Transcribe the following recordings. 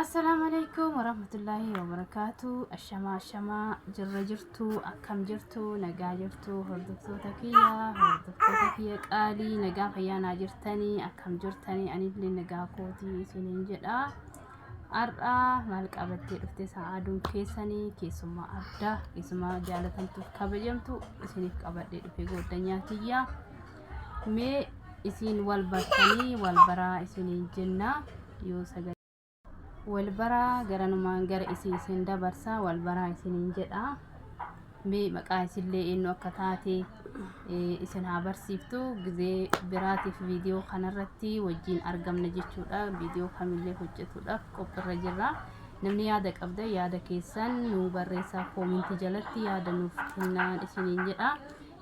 Assalaamu alaikum warahmatullaahi wabarakaatu. Ashamaa ashamaa jirra jirtu akkam jirtu nagaa jirtu hordoftoota kiyya hordoftoota kiyya qaalii nagaa fayyaanaa jirtanii akkam jirtanii anillee nagaa kootii isiniin jedha. Har'aa maal qabattee dhufte sa'aaduun keessanii keessummaa addaa keessummaa jaalatamtuuf kabajamtu isiniif qabadhee dhufe goddanyaa kiyya. mee isiin wal bartanii wal baraa isiniin jennaa yoo sagalee wal baraa garanumaan gara isin isin dabarsaa wal baraa isiniin jedha mee maqaa isillee eenyu akka taate eh, isin haa barsiiftu gizee biraatiif viidiyoo kanarratti wajjiin argamna jechuudha viidiyoo kamillee hojjetuudhaaf qophiirra jirra namni yaada qabda yaada keessan nuu barreessaa koominti jalatti yaada nuuf kennaan isiniin jedha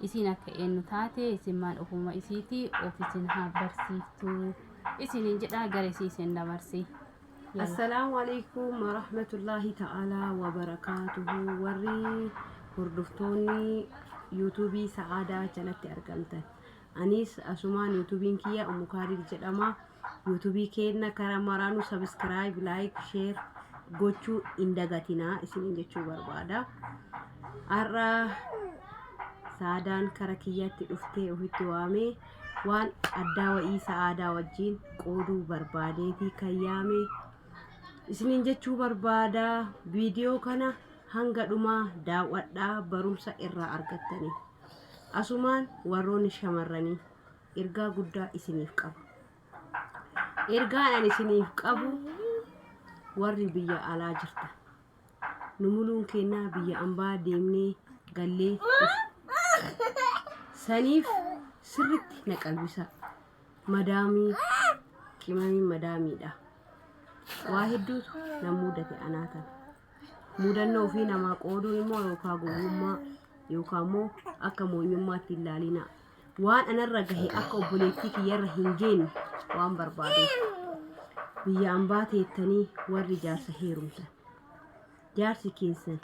Isiin akka eennu taate isin maal ofuuma isiiti of isin haa barsiiftu isiniin jedha gara isii isin dabarsi. Yalla. Assalaamu alaikum warahmatullaahi ta'aalaa wabarakaatuhu warri hordoftoonni yuutuubii sa'aadaa jalatti argamtan aniis asumaan yuutuubiin kiyya umukaadir jedhama YouTube keenna kara maraanu subscribe, like, share gochuu hin dagatinaa isiniin jechuu barbaada. Har'a saadaan kara kiyyatti dhuftee ofitti waamee waan addaa wa'ii sa'aadaa wajjin qooduu barbaadeetii kan yaame isiniin jechuu barbaada. Viidiyoo kana hanga dhumaa daawwadhaa barumsa irraa argattanii. Asumaan warroonni shamarranii ergaa guddaa isiniif qaba. Ergaan ani isiniif qabu warri biyya alaa jirta. Nu muluun kennaa biyya ambaa deemnee gallee saniif sirritti na qalbisaa. Madaamii qimamiin madaamiidha. Waa hedduutu na mudate anaa tana. Mudannoo ofii namaa qooduun immoo yookaan gowwummaa yookaan immoo akka moonyummaatti hin laalinaa. waan anarra gahe akka obboleettii kiyyarra hin geenye waan barbaaduuf biyya ambaa teettanii warri jaarsa heerumtan jaarsi keessan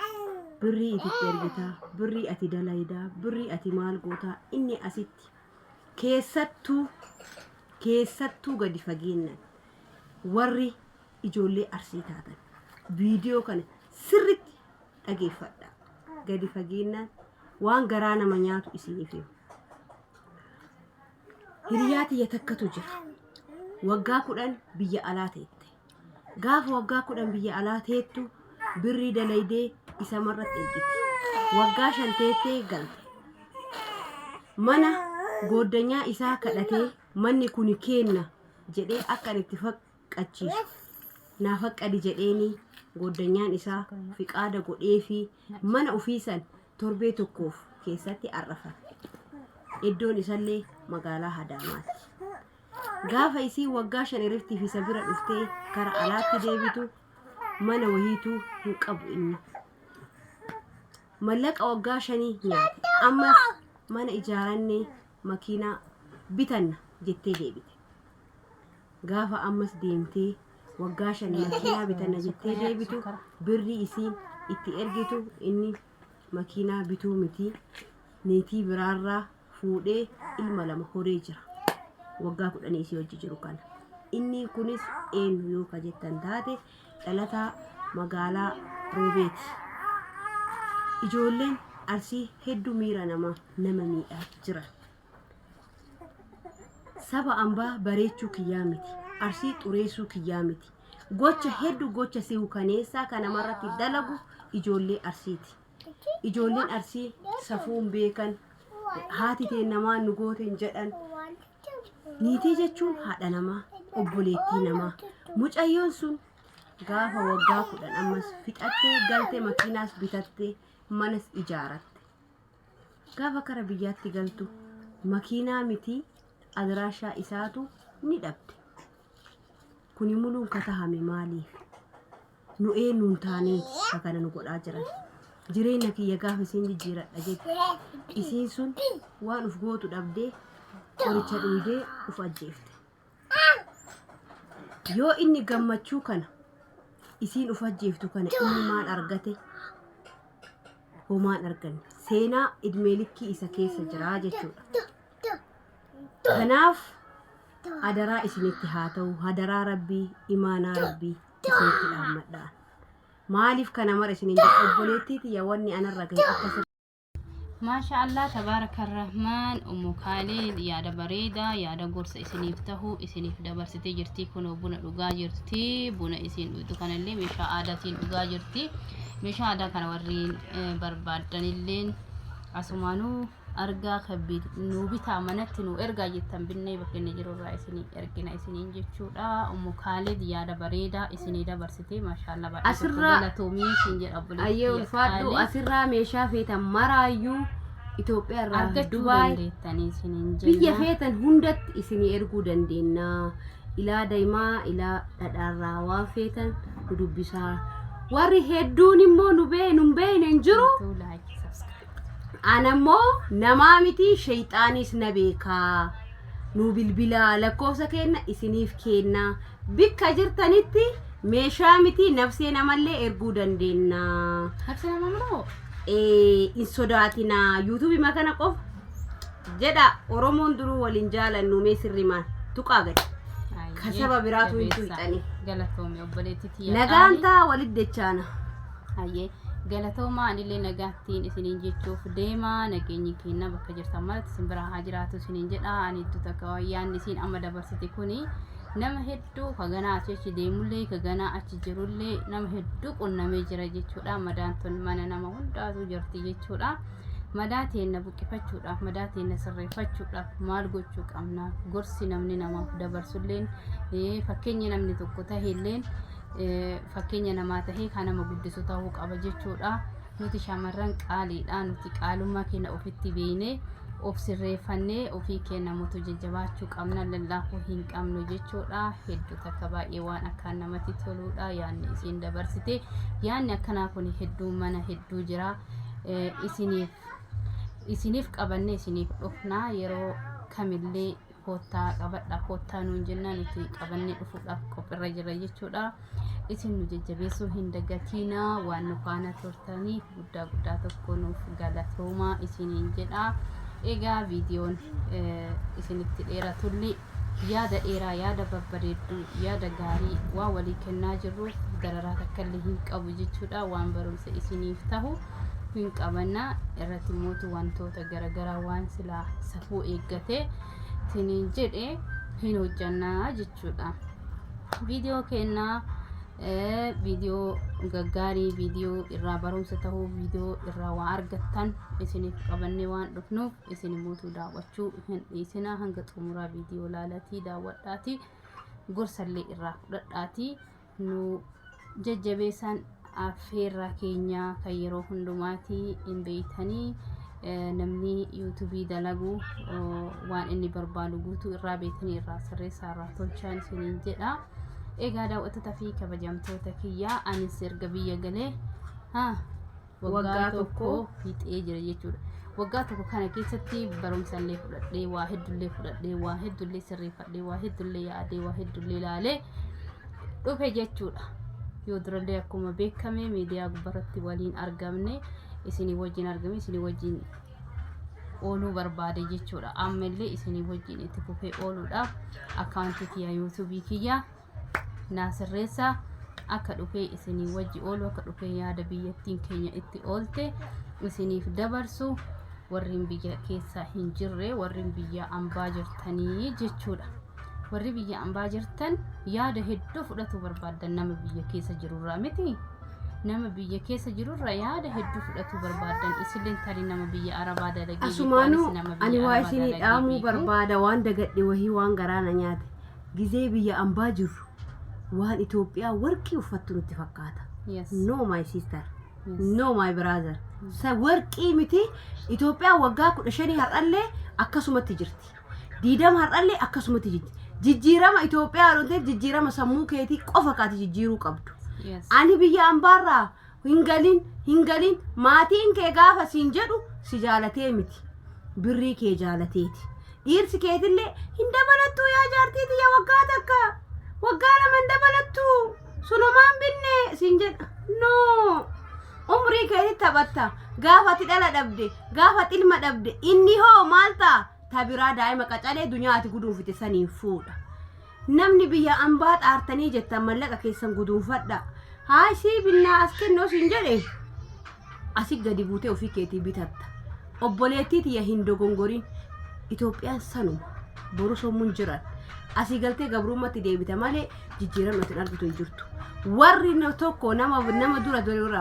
birrii ititti ergitaa birrii ati dalaydaa birrii ati maal gootaa inni asitti keessattuu keessattuu gadi fageennan warri ijoollee arsii taatan viidiyoo kana sirritti dhageeffadhaa. Gadi fageennaan waan garaa nama nyaatu isiniif hima. Hiriyaa tiyya takkatu jira. Waggaa kudhan biyya alaa teette. Gaafa waggaa kudhan biyya alaa teettu birrii dalaydee isa marratti ergite. Waggaa shan teettee galte. Mana gooddanyaa isaa kadhatee manni kuni keenna jedhee akka ani itti fak- qachiisu naa faqqadi jedheenii gooddanyaan isaa fiqaada godheefii mana ufii san torbee tokkoof keessatti ar'afan. Eddoon isallee magaalaa Hadaamaati. Gaafa isiin waggaa shan iriftiif isa bira dhuftee kara alaatti deebitu mana wahiituu hin qabu inni. Mallaqa waggaa shanii nyaate. Ammas mana ijaarannee makiinaa bitanna jettee deebite. gaafa ammas deemtee waggaa shan makiinaa bitana jettee deebitu birri isiin itti ergitu inni makiinaa bituu miti niitii biraarraa fuudhee ilma lama horee jira. Waggaa kudhanii isii hojii jiru kana. Inni kunis eenyu yoo ka jettan taate dhalataa magaalaa Roobeeti. Ijoolleen arsii hedduu miira namaa nama miidhaa jiran. Saba ambaa bareechuu kiyyaa miti. Arsii xureessuu kiyyaa miti. Gocha hedduu gocha si hukaneessaa kan namarratti dalagu ijoollee arsiiti. Ijoolleen arsii safuun beekan haati teen namaa nu gooteen jedhan niitii jechuun haadha namaa obboleettii namaa mucayyoon sun gaafa waggaa kudhan ammas fixattee galte makiinaas bitattee manas ijaaratte. Gaafa kara biyyaatti galtu makiinaa mitii adiraashaa isaatu ni dhabde. Kuni muluun ka tahame maaliif? Nu eennuun taanee ka kana nu godhaa jiran? Jireenya kiyya gaafa isiin jijjiiradha jette. Isiin sun waan uf gootu dhabdee qoricha dhuydee uf ajjeefte. Yoo inni gammachuu kana isiin uf ajjeeftu kana inni maal argate homaan arganne seenaa idmee likkii isa keessa jiraa jechuudha. Kanaaf adaraa isinitti haa ta'u hadaraa rabbii imaanaa rabbii isinitti dhaammadhaan. Maaliif kana mara isiniin jedha obboleettii tiyya wanni anarra gahe akka sirrii Maasha Allah tabaaraka rahmaan ummu kaaliil yaada bareedaa yaada gorsa isiniif tahu isiniif dabarsitee jirti kunoo buna dhugaa jirti buna isiin dhuyxu kanallee meeshaa aadaatiin dhugaa jirti meeshaa aadaa kana warriin eh, barbaaddanilleen asumaanuu argaa kabbi nuu bitaa manatti nuu ergaa jettan binnee bakka inni jirurraa isinii ergina isiniin jechuudha ummu kaaliil yaada bareedaa isinii dabarsite Asirraa ayyee ulfaadhu asirraa meeshaa feetan maraayyuu Itoophiyaa irraa Dubaay biyya feetan hundatti isinii erguu dandeenya. Ilaa daimaa ilaa dhadhaarraa waan feetan nu dubbisaa. Warri hedduun immoo nu bee nu beeyne hin jiru. Ana immoo namaa miti sheeyxaaniis na beekaa. Nu bilbilaa lakkoofsa keenna isiniif keenna. Bikka jirtanitti meeshaa miti nafsee namallee erguu dandeenna. Nafsee nama moo? Ee, hin sodaatina. Yuutuubii makana qofa jedha Oromoon duruu waliin jaalannu mee sirri maal tuqaa gadi. Kasaba biraatu hin tuqxani. Galatoomi obboleetti tiyya. Nagaan taa walitti dechaana. Hayyee galatoomaa anillee nagaattiin isiniin jechuuf deemaa nageenyi keenya bakka jirtan maratti isin biraa haa jiraatu isiniin jedha ani iddoo takka yaanni isiin amma dabarsite kuni nama hedduu ka ganaa achi achi deemullee ka ganaa achi jirullee nama hedduu qunnamee jira jechuudha madaan tun mana nama hundaatu jirti jechuudha madaa teenna buqqifachuudhaaf madaa teenna sirreeffachuudhaaf maal gochuu qabna gorsi namni namaaf dabarsulleen eh, fakkeenya namni tokko tahelleen eh, fakkeenya namaa tahee kan nama guddisu tahuu qaba jechuudha Nuti shamarran qaaliidha. Nuti qaalummaa keenya ofitti beeknee of sirreeffannee ofii keenya mutu jajjabaachuu qabna lallaafuu hin qabnu jechuudha. Hedduu takka baay'ee waan akkaan namatti toluudha yaanni isiin dabarsite. Yaanni akkanaa kun hedduu mana hedduu jira. Eh, Isiniif isiniif qabannee isiniif dhufna yeroo kamillee koottaa qabadha koottaa nuun jennaa nuti qabannee dhufuudhaaf qophirra jira jechuudha. Isin nu jajjabeessuu hin dagatiinaa waan nu faana turtaniif guddaa guddaa tokko nuuf galatoomaa isiniin jedha. Egaa viidiyoon eh, isinitti dheeratulli yaada dheeraa yaada babbareedduu yaada gaarii waa walii kennaa jirruuf dararaa takkallee hin qabu jechuudha waan barumsa isiniif tahu. hin qabanna irratti mootu wantoota garagaraa waan silaa safuu eeggatee tiniin jedhe hin hojjannaa jechuudha. Viidiyoo kennaa viidiyoo gaggaarii viidiyoo irraa barumsa ta'uu viidiyoo irraa waa argattan isiniif qabannee waan dhufnuuf isin mootu daawwachuu hin dhiisinaa hanga xumuraa viidiyoo laalatii daawwadhaatii gorsallee irraa fudhadhaatii nu jajjabeessan affeerraa keenya kan yeroo hundumaati hin beeytanii namni yuutubii dalagu waan inni barbaadu guutuu irraa beeytanii irraa sirreessaa irraa tolchaan isiniin jedha egaa daawwattoota fi kabajamtoota kiyyaa anis erga biyya galee haa waggaa tokko fixee jira jechuudha. Waggaa tokko kana keessatti barumsa illee fudhadhee, waa heddullee fudhadhee, waa heddullee sirreeffadhee, waa heddullee yaadee, waa heddullee ilaalee dhufe jechuudha. Yoo durallee akkuma beekame miidiyaa gubbarratti waliin argamne isinii wajjin argame isinii wajjin ooluu barbaade jechuudha. Amma illee isinii wajjin itti fufee ooluudhaaf akkaawuntii kiyya yuutuubii kiyya naa sirreessaa akka dhufee isinii wajji oolu akka dhufee yaada biyyattiin keenya itti oolte isiniif dabarsu warreen biyya keessaa hin jirre warreen biyya ambaa jirtanii jechuudha. Warri biyya ambaa jirtan yaada hedduu fudhatuu barbaaddan nama biyya keessa jirurraa miti. Nama biyya keessa jirurra yaada hedduu fudhatuu barbaaddan isilleen tarii nama biyya arabaa dalagee beeku, Asumaanuu anis nama ani biyya waa arabaa isinii dalagee dhaamuu beeku. barbaada waan dagadhe wahii waan garaa na nyaate. Gizee biyya ambaa jirru waan Itoophiyaa warqii uffattu nutti fakkaata. Yes. No my sister. Yes. No my brother. Sa warqii miti Itoophiyaa waggaa kudha shanii har'allee akkasumatti jirti. Diidama har'allee akkasumatti jirti. Jijjiirama Itoophiyaa yoo ta'e jijjiirama sammuu keetii qofa kaati jijjiiruu qabdu. Yes. Ani biyya ambaarraa hin galin hin galin maatiin kee gaafa siin jedhu si jaalatee miti birrii kee jaalateeti dhiirsi keetillee hin dabalattuu yaa jaartii tiyya waggaa takka waggaa lama hin dabalattuu sunumaan binne siin jedha noo umrii keetti taphatta gaafa ati dhala dhabde gaafa ati ilma dhabde inni hoo maal ta'a ta biraa daa'ima qacalee dunyaa ati guduunfite saniin fuudha Namni biyya ambaa xaartanii jettan mallaqa keessan guduunfadhaa. Haay sii binnaa as kennoo siin jedhe asi gadi buutee ofii keetii bitatta. Obboleettii tiyya hin dogongorin. Itoophiyaan sanuma. Boru sommuun jiran. Asii galtee gabrummatti deebita malee jijjiiramni ati hin argitu hin jirtu. Warri na- tokko nama nama dura dura irraa